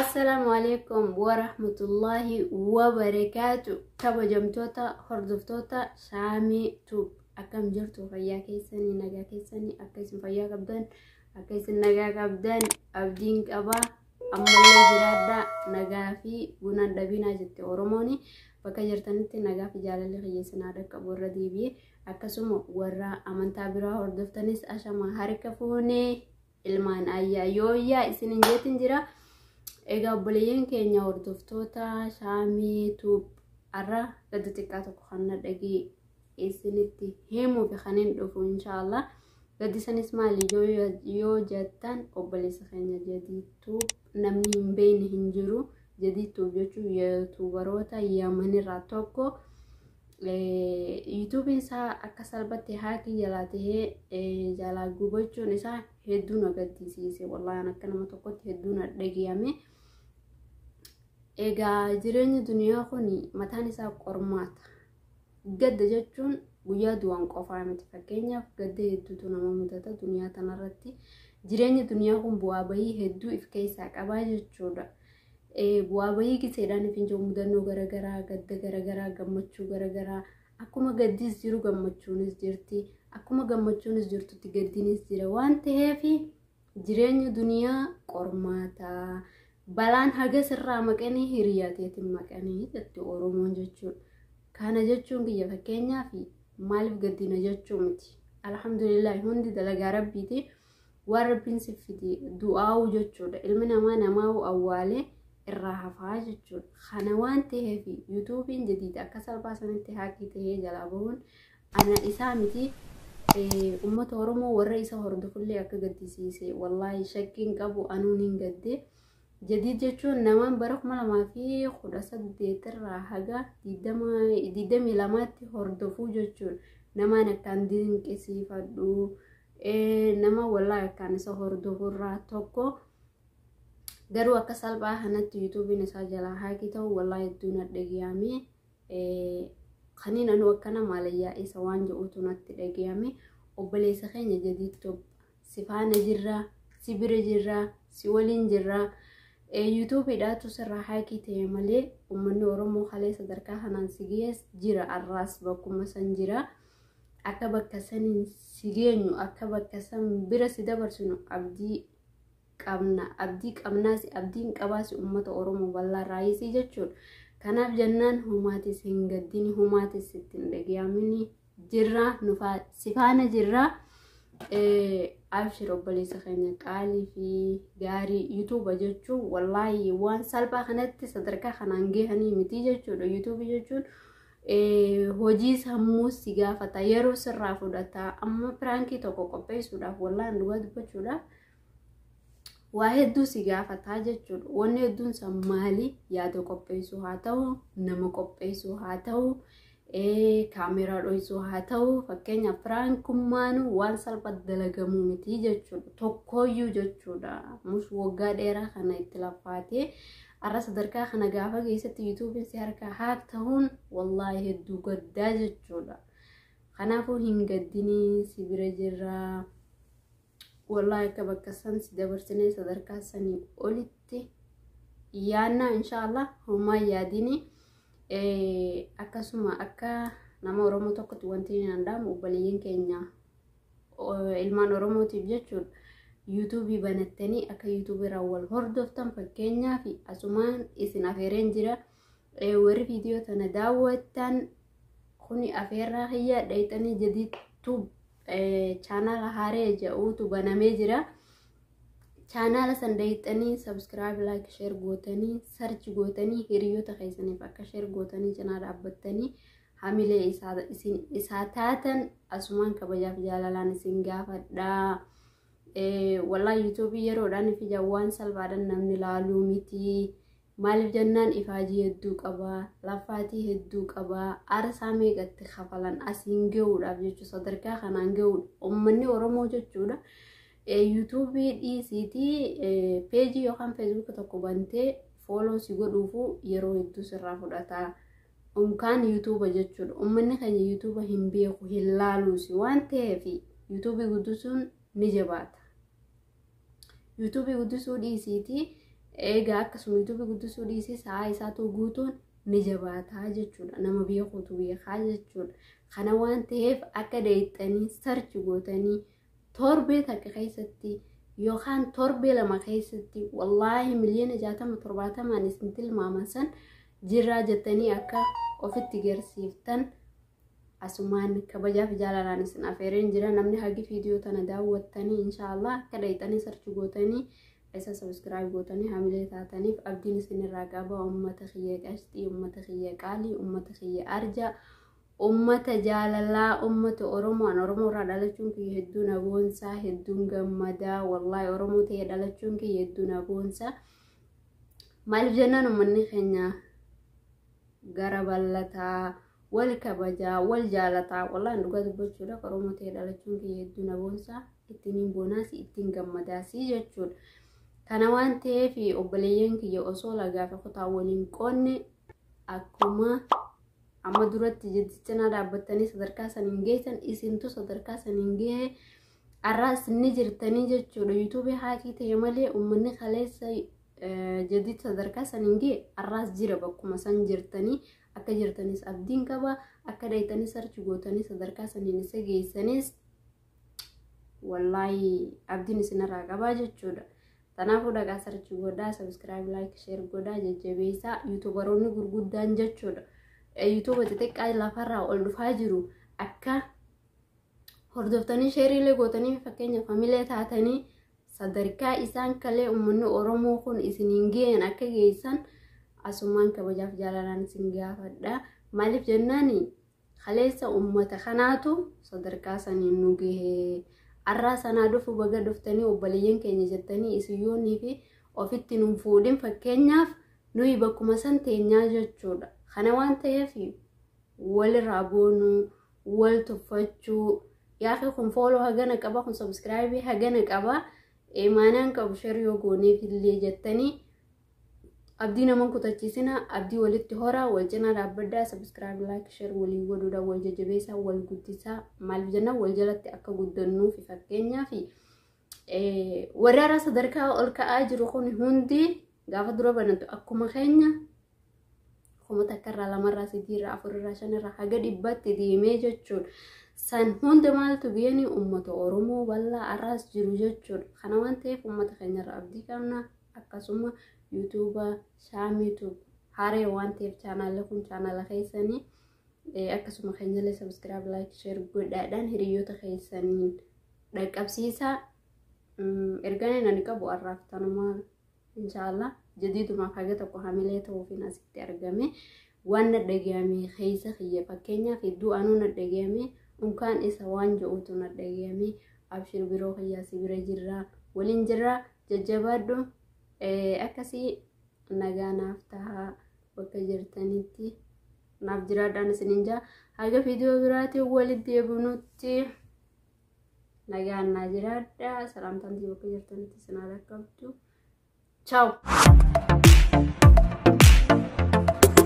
Assalaamu alaikum wa rahmatullaahi wa barakaatu kabajamtoota hordoftoota shaamii tuub akkam jirtu fayyaa keessanii nagaa keessanii akka isin fayyaa qabdan akka isin nagaa qabdan abdiin qabaa ammallee jiraadhaa nagaa fi bunaan dhabinaa jette oromooni bakka jirtanitti nagaa fi jaalalli kiyyeessinaa dhaqqabu irra deebi'e akkasuma warra amantaa biraa hordoftanis ashama harka fuunee ilmaan ayyaa yooyyaa isinin jeetin jira egaa obboleeyyan keenya hordoftoota shaamii tuub arra gadda xiqqaa tokko kanna dhagee isinitti himuuf kanin dhufu inshaallah gaddi sanis maali yoo jettan obboleessa keenya jadii tuub namni hin beeyne hin jiru jadii tuub jechuun yuutuubaroota yamanirraa tokko yuutuubiin isaa akka salphatti haakii jalaa tahee jalaa gubachuun isaa hedduu na gaddisiise wallaan akka nama tokkotti hedduu na dhagiyame egaa jireenyi duniyaa kun mataan isaa qormaata gadda jechuun guyyaa du'an qofaa miti fakkeenyaaf gadda hedduutu nama mudata duniyaa tanarratti jireenyi duniyaa kun bu'aa bahii hedduu if keessaa qabaa jechuudha Bu'aa bahii giseedhaan ifin jiru mudannoo garagaraa, gadda garagaraa, gammachuu garagaraa. Akkuma gaddiis jiru gammachuunis jirti. Akkuma gammachuunis jirtutti gaddinis jira waan ta'eef jireenyi duniyaa qormaata. Balaan hagas irraa maqanii hiriyaa teetiin maqanii jetti Oromoon jechuudha. Kana jechuun biyya fakkeenyaaf maaliif gaddina jechuu miti. Alhamdulillah hundi dalagaa rabbiiti. waan rabbiin si fide du'aa'uu jechuudha ilmi namaa namaa'uu awwaalee irraa hafaa jechuudha kana waan ta'eef yuutuubiin jadiida akka salphaa sanitti haakii ta'ee jalaa bahuun ana isaa miti ummata oromoo warra isa hordofullee akka gaddisiise wallaahi shakkiin qabu anuun hin gadde jadiid jechuun namaan bara kuma lamaa fi kudha saddeet irraa haga digdamii lamaatti hordofuu jechuudha namaan akkaan dinqisiifadhu. nama wallahi akkaan isa hordofurraa tokko garuu akka salphaa kanatti yuutuubiin isaa jalaa haakii ta'u wallahi hedduu na dhagiyame kaniin anuu akkana maalayyaa isa waan jedhutu natti dhagiyame obboleessa keenya jadiitti si faana jirraa si bira jirraa si waliin jirraa yuutuubiidhaatu sirraa haakii ta'e malee uummanni oromoo kalee sadarkaa kanaan si gees jira arraas bakkuma san jira. Akka bakka saniin si geenyu akka bakka san bira si dabarsinu abdii qabna abdii qabnaasi abdiin qabaasi ummata oromoo bal'aa raayisii jechuun kanaaf jennaan humaatis hin gaddini humaatis sitti hin dhagayamini jirra nufaa sifaana jirra abshir obboleessa keenya qaalii fi gaarii yuutuuba jechuun wallaahi waan salphaa kanatti sadarkaa kanaan gahanii miti jechuudha yuutuubi jechuun hojii sammuu si gaafata yeroo sirraa fudhata amma piraankii tokko qopheessuudhaaf wallaan dhugaa dubbachuudhaaf waa hedduu si gaafataa jechuudha wanni hedduun isaa maali yaada qopheessuu haa ta'u nama qopheessuu haa ta'u kaameeraa dho'isuu haa ta'u fakkeenyaaf piraankummaan waan salphaa dalagamuu miti jechuudha tokkooyyuu jechuudha mus waggaa dheeraa kana itti lafaatee Arra sadarkaa kana gaafa geessetti yuutuubiin si harkaa haak tahuun wallaahi hedduu gaddaa jechuudha. Kanaafuu hin gaddinii si bira jirraa. Wallaahi akka bakka san si dabarsinee sadarkaa sanii olitti yaannaa inshaallah homaa yaadinii akkasuma akka nama Oromoo tokkotti wanti hin danda'amu obboleeyyan keenya ilmaan oromootiif jechuun yuutuubii banattanii akka yuutuubiirraa wal hordoftan fakkeenyaaf asumaan isin afeereen jira warri viidiyoo tana daawwattan kuni afeerraa kiyyaa dhayxanii jadiittuu chaanaala haaree ja'uutu banamee jira. chaanaala san dayxanii sabskiraayib laayik sheer gootanii sarchi gootanii hiriyoota keessaniif akka sheer gootanii cinaa dhaabbattanii hamilee isaa isin isaa taatan asumaan kabajaaf jaalalaan isin gaafadha. Walaa yuutuubii yeroodhaan fi jawwaan salphaadhaan namni laaluu miti. Maaliif jennaan ifaajii hedduu qaba, laffaatii hedduu qaba, aarsaa meeqatti kafalan asiin gahuudhaaf jechuudha. Sadarkaa kanaan gahuudha. Uummanni Oromoo jechuudha. Yuutuubii dhiisiitii peejii yookaan feesbuuka tokko bantee fooloo si godhuufu yeroo hedduu sirraa fudhata. Unkaan yuutuuba jechuudha. Uummanni keenya yuutuuba hin beeku hin laaluusi waan ta'eef yuutuubii guddisuun ni jabaata. Yuutuubii guddisuu dhiisiitii egaa akkasuma yuutuubii guddisuu dhiisii sa'aa isaatu guutuun ni jabaataa jechuudha. Nama beekuutu beekaa jechuudha. Kana waan ta'eef akka deettanii sarchi gootanii Torbee takka keessatti yookaan torbee lama keessatti wallaahi miliyoona jaatama torbaatamaan isin tilmaaman san jirraa jettanii akka ofitti garsiiftan asumaan kabajaaf jaalalaan isin afeereen jira namni hagi viidiyoo tana daawwattanii inshaallah akka dhayxanii sarchi gootanii isa sabiskiraayib gootanii hamilee taataniif abdiin isinirraa qaba ummata kiyya qashxii ummata kiyya qaalii ummata kiyya arjaa Ummata jaalalaa ummata Oromoo an Oromoo irraa dhalachuun kiyya hedduu na boonsaa hedduun gammadaa wallaahi Oromoo ta'ee dhalachuun kiyya hedduu na boonsaa maaliif jennaan ummanni keenya gara ballataa wal kabajaa wal jaalataa wallaahi an dhugaa dubbachuudhaaf Oromoo ta'ee dhalachuun kiyya hedduu na boonsaa ittiin hin boonaasi ittiin gammadaasi jechuudha. Kana waan ta'eef obboleeyyan kiyya osoo lagaa fi kutaa waliin qoonne akkuma Amma duratti jiddi cinaa dhaabbattanii sadarkaa san hin geessan isintu sadarkaa san hin gahee arraas ni jirtanii jechuudha. Yuutuubii haakii ta'e malee uummanni kaleessa jadid sadarkaa san hin gahe arraas jira bakkuma san jirtanii akka jirtanis abdiin qaba akka dhaytanii sarchi gootanii sadarkaa saniin isa geessanis wallaahi abdiin isinirraa qabaa jechuudha. Kanaafuu dhaqaa sarchi godhaa, sabiskiraayib, laayik, sheer godhaa, jajjabeessaa yuutubaroonni gurguddaan jechuudha. Yuutuuba xixiqqaa lafarraa ol dhufaa jiru akka hordoftanii sheeriilee gootanii fakkeenyaaf hamilee taatanii sadarkaa isaan kalee uummanni Oromoo kun isiniin ga'een akka geessan asumaan kabajaaf jaalalaan isin gaafadha. Maaliif jennaani? Kaleessa ummata kanaatu sadarkaa saniin nu gahe. Arraa sanaa dhufu baga dhuftanii obboleeyyan keenya jettanii isin yoonii fi ofitti nun fuudhin fakkeenyaaf nuyi bakkuma san teenyaa jechuudha. Kana waan ta'eef walirraa boonuu, wal tuffachuu, yaaqii kun fooloo hagana qaba, kun sabiskiraayibii hagana qaba, imaanaan qabu sheri yoo gooneef illee jettanii Abdii naman kutachiisina abdii walitti horaa wal cinaa dhaabbaddaa sabiskiraayib laayik sheer walii godhuudhaan wal jajjabeessaa wal guddisaa maaliif jennaan wal jalatti akka guddannuu fi fakkeenyaa fi warri haaraa sadarkaa ol ka'aa jiru kun hundi gaafa dura banatu akkuma keenya kuma takkarraa lamarraa sadiirraa afurirraa shanirraa haga dhibbaatti deemee jechuudha. San hunda maaltu biyanii uummata Oromoo bal'aa arraas jiru jechuudha. Kana waan ta'eef uummata keenyarra abdii qabna. akkasuma yuutuuba shaamiituub haaree waan ta'eef chaanaala kun chaanaala keessanii eh, akkasuma keenyalee sabiskiraab laayik sheer godhaadhaan hiriyoota keessaniin dhaqqabsiisaa Mm, ergaan inni ani qabu har'aaf tanumaa inshaallah jadiidumaaf haga tokko hamilee ta'uufiin asitti argame waan na dhagayame keessa kiyya fakkeenyaaf hedduu anuu na dhagayame unkaan isa waan je'uutu na dhagayame abshir biroo kiyyaa si bira jirraa waliin jirraa Jajjabaadhu akkasii nagaa naaf tahaa bakka jirtanitti naaf jiraadhaan isinin jaa haga viidiyoo biraatiin walitti deebinutti nagaan naa jiraadha salaamtaan tii bakka jirtanitti isin haa dhaqqabdu. Ciao!